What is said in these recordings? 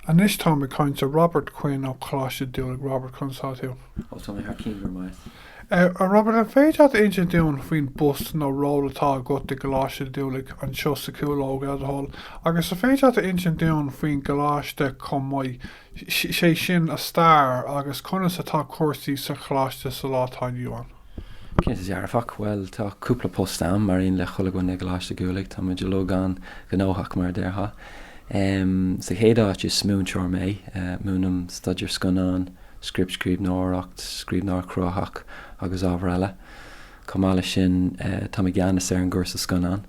Anois táim ag caint le Robert Quinn ó Coláiste Dhúlaigh Robert, conas atá tú? Ó tá mé thar cionn go raibh maith a't. A Robert, an féidir leat insint dúinn faoin bpost nó ról atá agat i gColáiste Dhúlaigh anseo sa Chúlóg, le do thoil, agus an féidir leat a insint dúinn faoin gColáiste chomh maith, sé sin a stair agus conas atá cúrsaí sa Choláiste sa lá atá inniu ann. Cinnte dearfach, bhuel tá cúpla post agam, mar aon le chuile dhuine i gColáiste Dhúlaigh, tá muid uilig an-ghnóthach mar a déarfá. Sa chéad áit is múinteoir mé, múinim staidéar scannáin, scriptscríbhneoireacht, scríbhneoireacht chruthaitheach agus ábhair eile. Chomh maith leis sin táim i gceannas ar an gcúrsa scannán,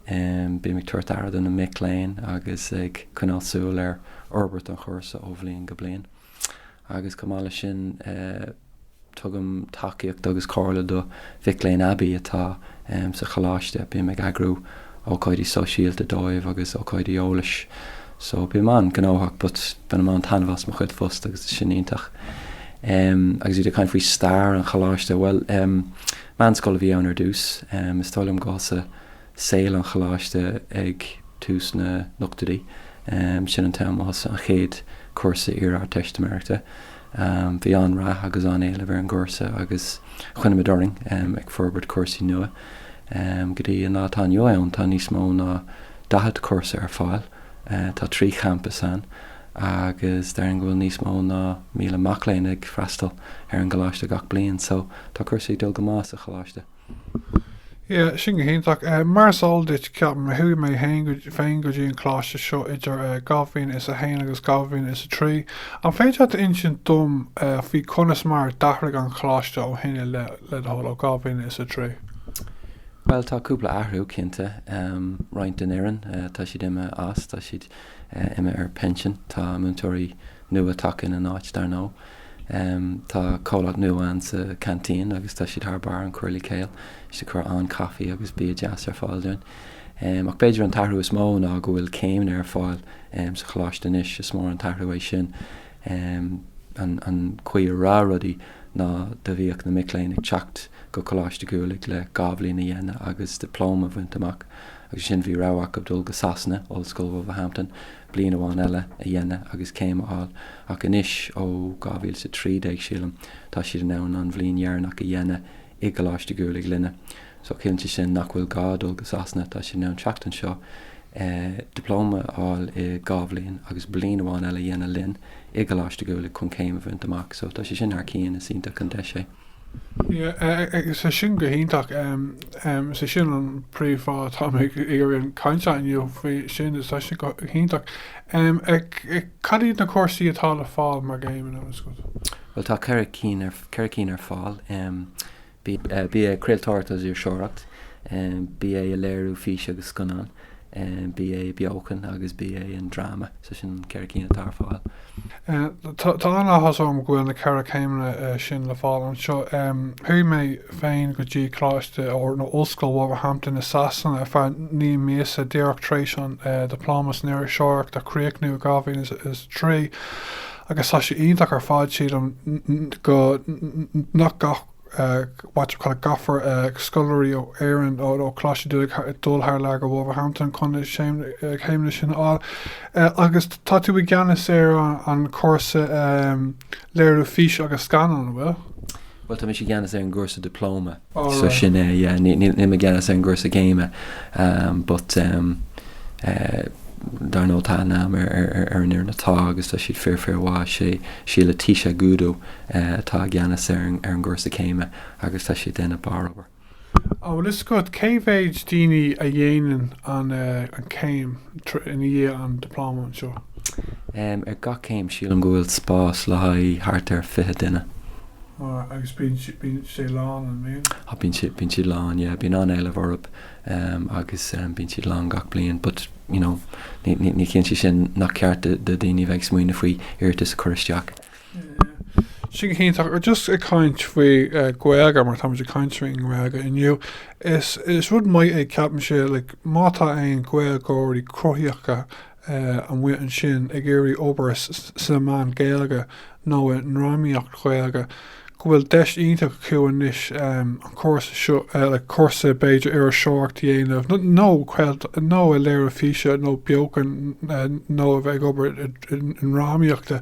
bím ag tabhairt aire do na mic léinn agus ag coinneáil súil ar fhorbairt an chúrsa ó bhliain go bliain. Agus chomh maith leis sin, tugaim tacaíocht agus comhairle do mhic léinn aibí atá sa choláiste. Bím ag eagrú ócáidí sóisialta dóibh agus ócáidí eolais. So, bím an-ghnóthach ach bainim an-taitneamh as mo chuid phost agus tá sé iontach. Agus ó thaobh ag caint faoi stair an choláiste, bhuel, meánscoil a bhí ann ar dtús. Is dóigh liom gurbh sa. saol an Choláiste ag tús na n-ochtóidí, sin an t-am a thosaigh an chéad chúrsa iar-Ardteistiméireachta. Bhí an-rath agus an-éileamh ar an gcúrsa agus choinnigh muid orainn ag forbairt cúrsaí nua. Go dtí an lá atá inniu ann tá níos mó ná daichead cúrsa ar fáil, tá trí champas ann agus déarfainn go bhfuil níos mó ná míle mac léinn ag freastal ar an gColáiste gach bliain. So, tá cúrsaí ag dul go maith sa Choláiste. Yeah, sin go hiontach. Mar is eol duit, ceapaim, chuaigh mé féin go dtí an coláiste seo idir 2001 agus 2003. An féidir leat a insint dom faoi conas mar a d'athraigh an coláiste ó shin i leith, le do thoil, ó 2003? Bhuel, tá cúpla athrú, cinnte. Roinnt den fhoireann, tá siad imithe as, tá siad imithe ar pinsean. Tá múinteoirí nua tagtha ina n-áit, dar ndóigh. Tá comhlacht nua ann sa Canteen agus tá siad thar barr, an Curly Kale. Tá siad ag cur an-caife agus bia deas ar fáil dúinn. Ach b'fhéidir an t-athrú is mó ná go bhfuil céimeanna ar fáil sa choláiste anois. Is mór an t-athrú é sin. An chaoi a raibh rudaí ná do bhíodh na mic léinn ag teacht go Coláiste Dhúlaigh le dhá bhliain a dhéanamh agus diploma a bhaint amach agus ansin bhí rogha acu dul go Sasana, Ollscoil Wolverhampton, bliain amháin eile a dhéanamh agus céim a fháil ach anois ó 2013 sílim tá siad in ann an bhliain dheireanach a dhéanamh i gColáiste Dhúlaigh linne so ciallaíonn sé sin nach bhfuil gá dul go Sasana, tá siad in ann teacht anseo, dioplóma a fháil i dhá bhliain agus bliain amháin eile a dhéanamh linn i gColáiste Dhúlaigh chun céim a bhaint amach so tá sé sin thar cionn, is iontach an deis é. Sea, tá sé sin go hiontach. Is é sin an príomh fáth atá mé ag iarraidh an chaint seo inniu faoi sin. Sin go hiontach. Cad iad na cúrsaí atá le fáil mar chéim anois go? Bhuel tá ceithre cinn ar fáil. BA Craoltóireacht agus Iriseoireacht. BA i Léiriú Físe agus Scannán. BA beochan agus BA i ndráma, so sin na ceithre cinn atá ar fáil. Tá an-áthas orm go bhfuil na ceithre céimeanna sin le fáil anseo. Chuaigh mé féin go dtí Coláiste nó Ollscoil Wolverhampton i Sasana ar feadh naoi míosa díreach tar éis an Dioplóma san Iriseoireacht a chríochnú i 2003 agus tá sé iontach ar fad. Sílim go, nach gach. What you call gcaithfidh scoláirí ó Éirinn, ó Choláiste Dhúlaigh dul thar lear go Wolverhampton chun na céimeanna sin a fháil. Agus tá tú i gceannas ar an chúrsa léiriú físe agus scannáin, an bhfuil? Bhuel, tá mise i gceannas ar an gcúrsa dioplóma. So sin é. Níl mé i gceannas ar an gcúrsa céime but. Dar ndóigh tá aithne agam ar an fhoireann atá agus tá siad fíor, fíormhaith. Is í Leticia Agudo atá i gceannas ar an gcúrsa céime agus tá sí ag déanamh barr-obair. An bhfuil 'fhios agat cé mhéid daoine a dhéanann an chéim i ndiaidh an Dioplóma anseo? Ar gach céim sílim go bhfuil spás le haghaidh thart ar 20 duine. Agus bíonn sé lán an mbíonn? Bíonn siad lán yeah. Bíonn an-éileamh orthu. agus bíonn siad lán gach bliain but you know ní chiallaíonn sé sin nach ceart do dhaoine a bheith ag smaoineamh faoi iarratas a chur isteach. Sin go hiontach agus just ag caint faoi eh, Gaeilge mar táimid ag caint faoin nGaeilge inniu. Is is rud maith é ceapaimse like, má tá aon Gaeilgeoirí cruthaitheacha amuigh ansin ag iarraidh obair sna meáin Gaeilge nó i ndrámaíocht Ghaeilge, go bhfuil deis iontach acu anois an cúrsa seo, like cúrsa b'fhéidir iriseoireacht a dhéanamh nó nó léiriú físe nó beochan nó a bheith ag obair i ndrámaíocht.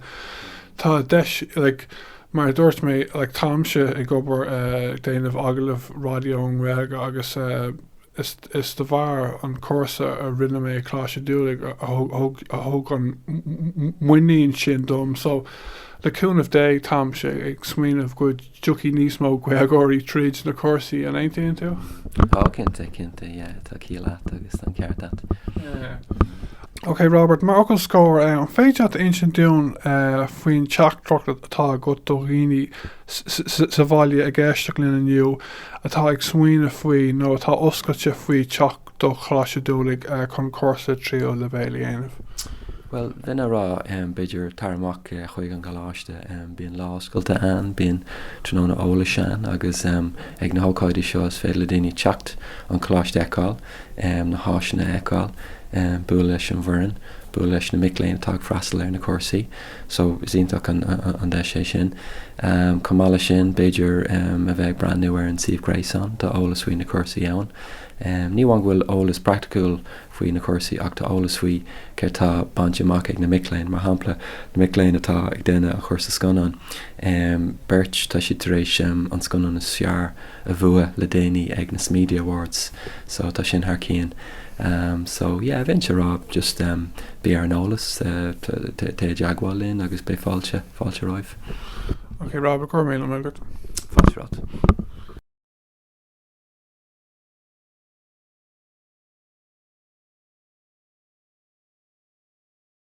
Tá deis like mar a dúirt mé like táimse ag obair ag déanamh agallamh raidió i nGaeilge agus eh, Is is de bharr an cúrsa a rinne mé i gColáiste Dhúlaigh a thug an muinín sin dom so le cúnamh Dé táimse ag smaoineamh go dtiocfaidh níos mó Gaeilgeoirí tríd na cúrsaí, an aontaíonn tú? Cinnte, cinnte, yeah, tá ciall a't agus tá an ceart a't. Yeah. Ok Robert, mar fhocal scoir, an féidir leat a insint dúinn faoin teachtaireacht atá agat do dhaoine sa bhaile ag éisteacht linn inniu atá ag smaoineamh faoi nó atá oscailte faoi theacht do Choláiste Dhúlaigh chun cúrsa tríú leibhéil a dhéanamh? Bhuel, bheinn a' rá, b'fhéidir, tar amach chuig an gColáiste. Bíonn Lá Oscailte ann, bíonn Tráthnóna Eolais ann agus ag na hócáidí seo is féidir le daoine teacht, an Coláiste a fheiceáil, na háiseanna a fheiceáil, bualadh leis an bhfoireann, bualadh leis na mic léinn atá ag freastal ar na cúrsaí. So is iontach an deis é sin. Chomh maith leis sin, b'fhéidir a bheith ag breathnú ar an suíomh gréasáin tá eolas faoi na cúrsaí ann. Ní amháin go bhfuil eolas praiticiúil faoi na cúrsaí ach tá eolas faoi céard tá bainte amach ag na mic léinn. Mar shampla, na mic léinn atá ag déanamh an chúrsa scannáin, beirt, tá siad tar éis an scannán is fearr a a bhua le déanaí ag na Smedia Awards so tá sin thar cionn so yeah bheinnse ag rá just bí ar an eolas téigh i dteagmháil linn agus beidh fáilte fáilte roimh. Ok Rob go raibh míle maith agat. Fáilte romhat.